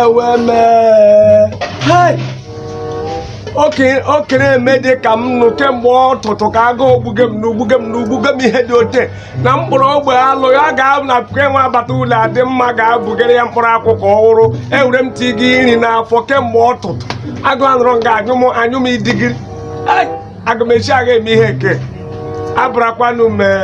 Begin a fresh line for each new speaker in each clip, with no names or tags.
eweme okere eme dị ka m nọ kemgbe ọtụtụ ka agụụ gbuge m n'ugbuge m n'ugbuge m ihe dị ote na mkpụrụ ogbe alụ ya ga-abụ na puku enwe agbata ụlọ adị mma ga-abụgara ya mkpụrụ akwụkwọ ọhụrụ ewere m ti gị nri n'afọ kemgbe ọtụtụ aga anọrọ nga anyụ m anyụ m idigiri aga m esi aga eme ihe ke a bịarakwanụ mee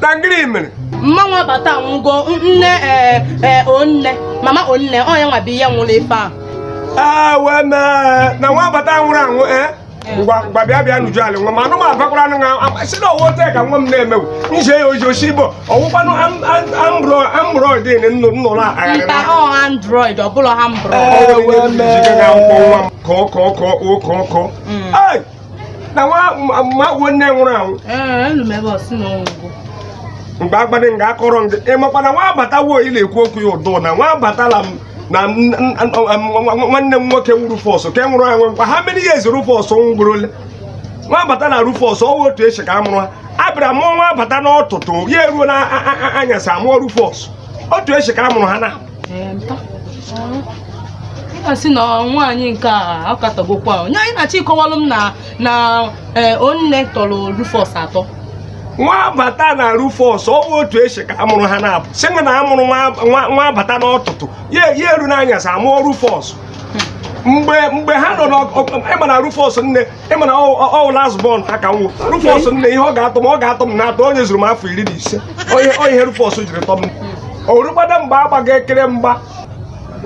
na
gịnị mere mmanwụ
abata anwụgo nne ee ee onne mama onne ọ ya nwa bụ ihe nwụrụ ife a ee wee mee
na Nwabata nwụrụ anwụ ee ngwa ngwa bịa bịa nuju ala nwa ma anụ m abakwara anụ nwa si na ọ wụ ote ka nwa m na-emewu nje ya oji osi igbo ọ wụkwanụ android nnụ nnụ na agharị mba ọ
android ọ bụla ha mbụrụ Ee, wee mee. Kọọ kọọ kọọ kọọ
kọọ kọọ. Ai! na nwa agwọ nne nwụrụ anwụ mgbe agbadị nga akọrọ ndị ị makwa na nwa abatawo ị na-ekwu okwu ya ụdụ na nwa abatala m na nwanne m nwoke wụ Rufus ke nwụrụ anwụ nkwa ha mere ihe ezi Rufus nwụgburu ole Nwabata na Rufus ọ wụ otu esi ka a mụrụ ha a bịara mụọ Nwabata n'ọtụtụ ya eruo na anyasị amụọ Rufus otu esi ka a mụrụ ha na
a sị na nwaanyị nke a akatagokwa onye anyị na-achọ ịkọwalụ m na na eh, onne tọrọ Rufus atọ Nwabata
na Rufus ọ wụ otu esi ka a mụrụ ha na-abụ sị na a mụrụ Nwabata n'ọtụtụ ya eru n'anyasị amụọ Rufus mgbe mgbe ha nọ n'ọgụ ị ma na Rufus nne ị ma na ọ wụ last born ha ka m wụ Rufus nne ihe ọ ga-atọ m ọ ga-atọ m na-atọ onye zuru m afọ iri na ise onye ihe Rufus jiri tọ m o rugbada mgbe a gbaga ekere mgba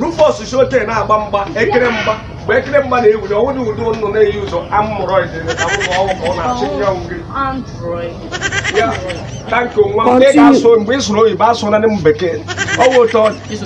Rufus si ote na-agba mgba ekere mgba mgbe ekere mgba na-ewuli ọnwụ dị ụdị ụnụ na-eyi ụzọ amụrọid amụrụ ọnwụ ka ọ na-achị ya ngiri ya tanki nwa m ndị ga-asụ mgbe ị sụrụ oyibo asụ na m bekee ọ wụ otu ọ dị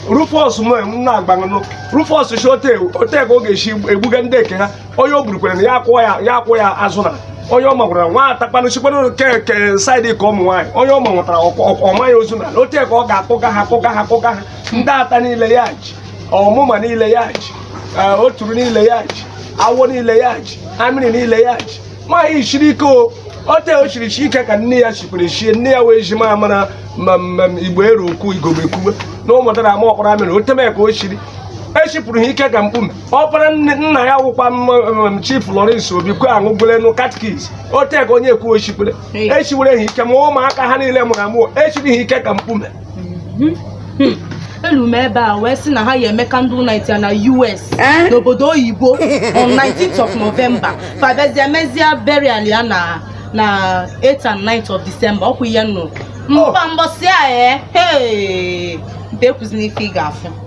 Rufus m na-agbanụ Rufus si ote ote ka ọ ga-esi egbuga ndị eke ha onye o burukwere na ya akwụọ ya ya akwụọ ya azụ na onye ọ magwara nwa atakpanụ sikwanụ ke ke saịdị ka ụmụ nwaanyị onye ọ manwetara ọ maa ya ozu na ote ka ọ ga-akpụga ha akpụga ha akpụga ha ndị ata niile ya ji ọmụma niile ya ji eh, oturu niile ya ji awọ niile ya ji amịrị niile ya ji nwaanyị siri ike o ote o chiri chi ike ka nne ya chikwere chie nne ya wee ji ma mara ma mmem igbo eru ukwu igogbe kwuwe na ụmụdara ama ọkpara amịrị oteme ka o chiri echipụrụ ha ike ka mkpume ọkpara nna ya wụkwa m chief Lawrence Obi kwe aṅụgolenu catechist oteka onye ekwu ochikwere echiwere ha ike ma ụmụaka ha niile mụrụ amụ echiri ha ike ka mkpume hmm. Hmm.
elu m ebe a wee sị na ha ya-eme candle night ya na US eh? n'obodo oyibo on 19th of November fa bịazie mezie burial ya na na 8th and 9th of December ọ kwa ihe m nụ oh. mba mbọsị a ee eh? nte kwuzina ife ị ga-afụ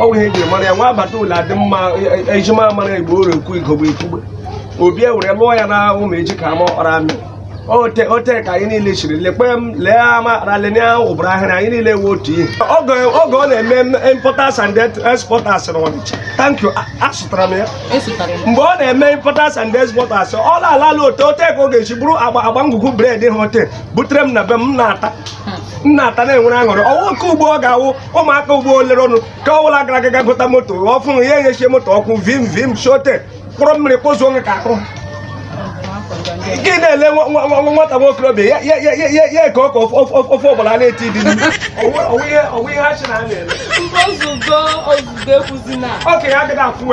ọ bụ ihe eji mara ya nwa abata ụlọ adị mma ejima mara igbo oro ekwu igogbo ikwugbe obi ewere lụọ ya na ụmụ eji ka ama ọkpara amị ote ote ka anyị niile chiri lekwe m lee ama ralene ụbụrụ ahịrị anyị niile wee otu ihe oge oge ọ na-eme importers and exporters na ọnịcha thank you a- asụtara m ya asụtara m mgbe ọ na-eme importers and exporters ọ na-alala ote ote ka ọ ga-esi bụrụ agba agba ngwugwu bread ha ote butere m na be m m na-ata m na-ata na-enwere aṅụrị ọ wụ nke ugbua ọ ga-awụ ụmụaka ugbua olere ọnụ ka ọ bụla gara aga gota moto ọfụrụ ya enyechie moto ọkụ vim vim shote kpụrụ mmiri kpozuo nwe ka ahụ gị na-ele nwata nwokorobịa ya ka ọka ofe ọgbara na-eti dị okenye agaghị afụ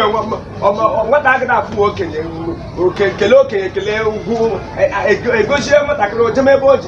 nwata
agaghị afụ
okenye okenye kelee okenye kelee ugwu egozie nwatakịrị ojemebe o ji